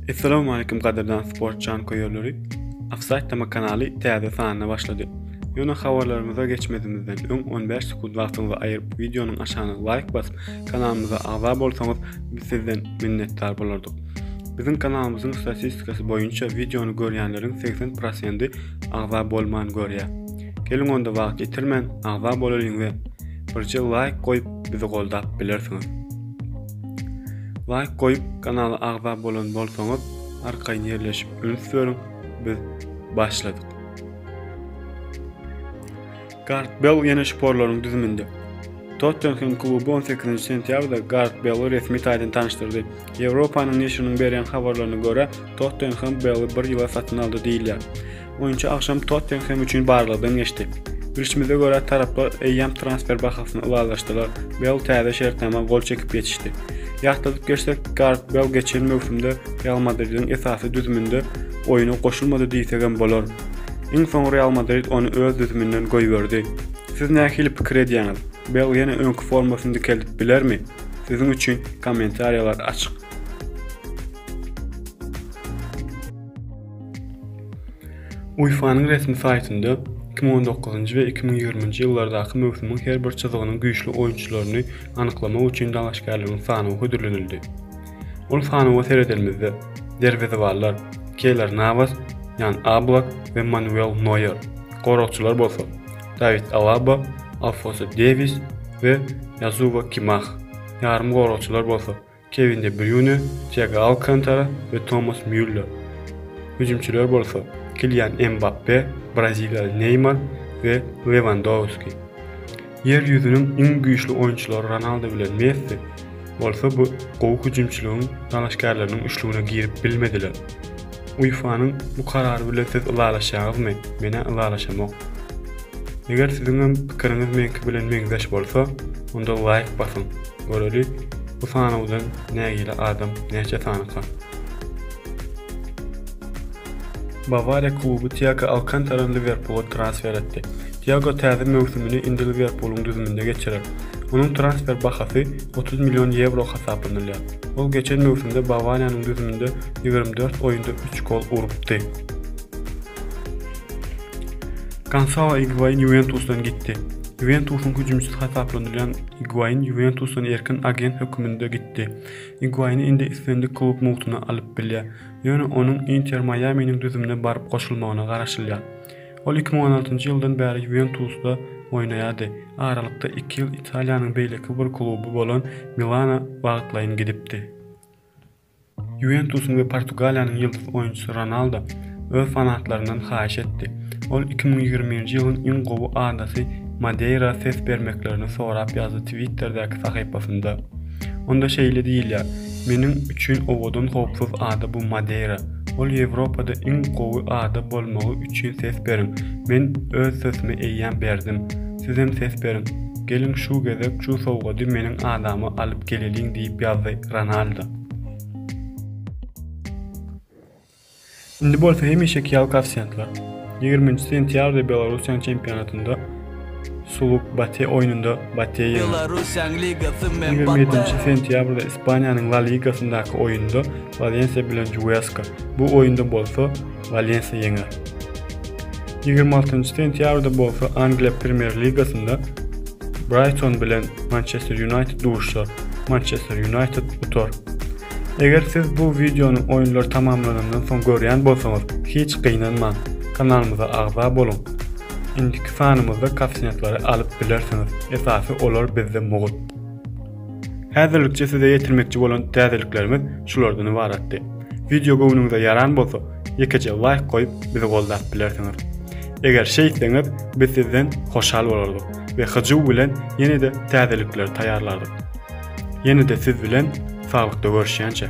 Assalamu alaykum gaderdan sport jan köýerleri. Offside tema kanaly täze sanyna başlady. Ýöne habarlarymyza geçmedimizden öň 15 sekund wagtyňyzy aýyryp wideonyň aşagyna laýk basyp kanalymyza agza bolsaňyz biz sizden minnetdar bolardyk. Biziň kanalymyzyň statistikasy boýunça wideony görýänleriň 80%-i agza bolman görýär. Geliň onda wagt ýitirmän agza bolalyň we Birje laýk goýup bizi goldap bilersiňiz. Laýk goýup kanala agza bolan bolsaňyz arkaýyn ýerleşip üns beriň biz başladyk. Gart Bell ýene şporlaryň düzüminde. Tottenham kluby 18 sentýabrda Gareth Bale resmi taýdan tanyşdyrdy. Ýewropanyň neşiriniň berýän habarlaryna görä, Tottenham Bale bir ýyla satyn aldy diýilýär. Oýunçy agşam Tottenhem üçin barlagdan geçdi. Bilşimize görä, taraplar eýýäm transfer bahasyny ylalaşdylar, Bel täze şertnama gol çekip ýetişdi. Ýatladyp geçsek, Garet Bel geçen möwsümde Real Madridiň esasy düzüminde oýuna goşulmady diýsegem bolar. Iň soň Real Madrid ony öz düzüminden goýberdi. Siz nähili pikir edýäňiz? Bel ýene öňki formasyny dikeldip bilermi? Siziň üçin kommentariýalar açyk. UEFA-nyň resmi saýtynda 2019-njy we 2020-nji ýyllardaky möwsümiň her bir çyzygynyň güýçli oýunçylaryny anyklamak üçin dalaşgärleriň sanawy hödürlenildi. Ol sanawa seredeniňizde, derwezebanlar Keýler Nawas, Ýan Ablak we Manuel Noýer, goragçylar bolsa, Dawid Alaba, Alfonso Dewis we Ýazuwa Kimah, ýarymgoragçylar bolsa, Kewin de Brýune, Tiago Alkantara we Tomas Mýuller, hüjümçiler bolsa Kilian Mbappe, braziliýaly Neýmar we Lewandowski. Ýer ýüzüniň iň güýçli oýunçylary Ronaldo bilen Messi bolsa bu gowy hüjümçiligiň dalaşgärleriniň üçlügine girip bilmediler. UEFA-nyň bu karary bilen siz ylalaşýaňyzmy? Men-ä ylalaşamok. Eger siziňem pikiriňiz meňki bilen meňzeş bolsa, onda laýk basyň, göreli bu sanawdan nägile adam näçe sanyka. Bawariýa kluby Tiago Alkantarany Liwerpula transfer etdi. Tiago täze möwsümini indi Liwerpulyň düzüminde geçirer. Onuň transfer bahasy otuz million ýewro hasaplanylýar. Ol geçen möwsümde Bawariýanyň düzüminde ýigrimi dört oýunda üç gol urupdy. Gansao Iguain Ýuwentusdan gitdi. Ýuwentusyň hüjümçisi hasaplanylýan Iguain Ýuwentusdan erkin agent höküminde gitdi. Iguaini indi islendik klub mugtuna alyp bilýär. Ýöne onuň Inter Maýaminiň düzümine baryp goşulmagyna garaşylýar. Ol iki müň on altynjy ýyldan bäri Ýuwentusda oýnaýardy, aralykda iki ýyl Italiýanyň beýleki bir kluby bolan Milana wagtlaýyn gidipdi. Ýuwentusyň we Portugaliýanyň ýyldyz oýunçysy Ronaldo öz fanatlaryndan haýyş etdi, ol iki müň ýigrimi birinji ýylyň iň gowy adasy Madeýra ses bermeklerini sorap ýazdy Twitterdäki sahypasynda. Onda şeýle diýilýär, Meniň üçin owadan howpsuz ada bu Madeýra. Ol Ýewropada iň gowy ada bolmagy üçin ses beriň. Men öz sesimi eýýäm berdim. Sizem ses beriň. Geliň şu gezek şu sowgady meniň adama alyp geleliň diýip ýazdy Ronaldo. Indi bolsa hemişeki ýaly koeffisiýentler. Ýigriminji sentýabrda Belarussiýanyň çempionatynda Suluk Bate oýnunda Bate ýeňdi. Ýigrimi ýedinji sentýabrda Ispaniýanyň La Ligasyndaky oýnunda Walensiýa bilen Juweska, bu oýunda bolsa Walensiýa ýeňer. Ýigrimi altynjy sentýabrda bolsa Angliýa Premýer Ligasynda Braýton bilen Mançester Ýunaýted duşuşar, Mançester Ýunaýted utar. Eger siz bu wideony oýunlar tamamlanandan soň görýän bolsaňyz, hiç gynanmaň, kanalymyza agza boluň. Indiki sanymyzda kassetlary alyp bilersiňiz, esasy olar bizde mugt. Häzirlikçe size ýetirmekçi bolan täzeliklerimiz şulardan ybaratdy. Wideo göwnüňize ýaran bolsa, ýekeje laýk goýup bizi goldap bilersiňiz. Eger şeýtseňiz, biz sizden hoşal bolardyk we hyjuw bilen ýene-de täzelikleri taýýarlardyk. Ýene-de siz bilen saglykda görüşýänçä.